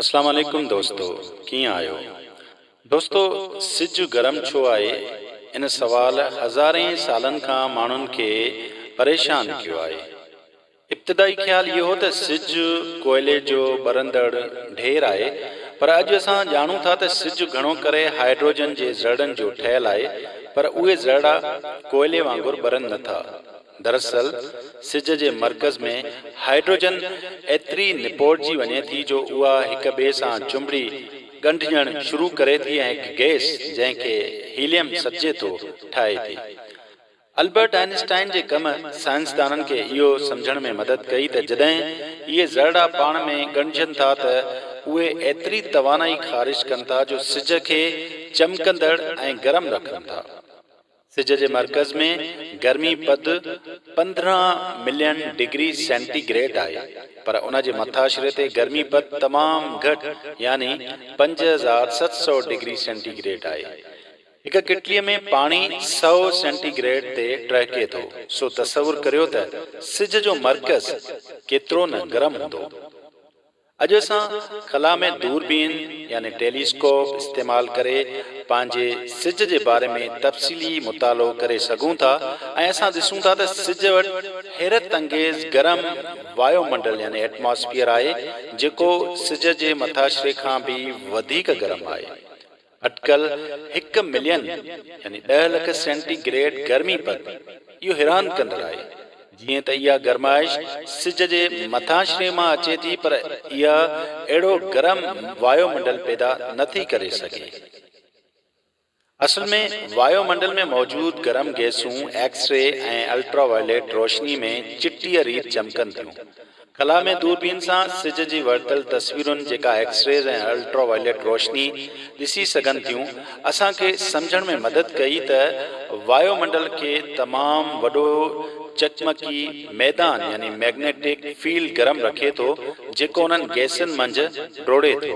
اسلام عليڪم دوستو ڪيئن آهيو دوستو سج گرم ڇو آهي ان سوال هزارين سالن کان ماڻهن کي پريشان ڪيو آهي ابتدائي خيال اهو هو ته سج ڪوئلي جو ٻرندڙ ڍير آهي پر اڄ اسان ڄاڻون ٿا ته سج گهڻو ڪري هائيڊروجن جي ذرڙن جو ٺهيل آهي پر اهي ذرڙا ڪوئلي وانگر ٻرن نٿا. دراصل سج جي مرڪز ۾ هائيڊروجن ايتري نپوڙجي وڃي ٿي جو اها هڪ ٻئي سان چنبڙي ڳنڍجڻ شروع ڪري ٿي ۽ هڪ گئس جنهن کي هيليم سڏجي ٿو ٺاهي ٿي. البرٽ آئنسٽائن جي ڪم سائنسدانن کي اهو سمجهڻ ۾ مدد ڪئي ته جڏهن اهي ذرڙا پاڻ ۾ ڳنڍجن ٿا ته اهي ايتري توانائي خارج ڪن ٿا جو سج کي چمڪندڙ ۽ گرم رکن ٿا. سج جي مرڪز ۾ گرمي پد پندرهن ملين ڊگري سينٽي گريڊ آهي پر ان جي مٿاڇري تي گرمي پد تمام گهٽ يعني پنج هزار ست سؤ ڊگري سينٽي گريڊ آهي. هڪ ڪٽلي ۾ پاڻي سؤ سينٽي گريڊ تي ٽهڪي ٿو سو تصور ڪريو ته سج جو مرڪز ڪيترو نه گرم هوندو. اڄ اسان خلا ۾ دوربين يعني ٽيلي اسڪوپ استعمال ڪري پنهنجي سج جي باري ۾ تفصيلي مطالعو ڪري سگهون ٿا ۽ اسان ڏسون ٿا ته سج وٽ حيرت انگيز گرم وايو منڊل يعني ائٽماسفيئر آهي جيڪو سج جي مٿاشري کان به وڌيڪ گرم آهي. اٽڪل هڪ ملين يعني ڏهه لک سينٽي گريڊ گرمي پد اهو حيران ڪندڙ آهي. جيئن ته اها گرمائش سج جي مٿانشري مان اچي ٿي پر اها اهڙو گرم وايو منڊل پيدا نه ٿي ڪري سگهي. اصل ۾ وايو منڊل ۾ موجود گرم گئسون ايڪس ري ۽ الٽرا وائليٽ روشني ۾ چٽيء ريت چمڪن ٿيون. خلا ۾ دوربين سان سج جي ورتل تصويرن جيڪا ايڪس ريز ۽ الٽرا وائليٽ روشني ڏسي سگهن ٿيون، اسان کي سمجهڻ ۾ مدد ڪئي ته وايو منڊل کي تمام وڏو چقمقي ميدان يعني مئگنيٽڪ فيلڊ گرم رکي ٿو جيڪو انهن گئسن منجهه ڊوڙي ٿو.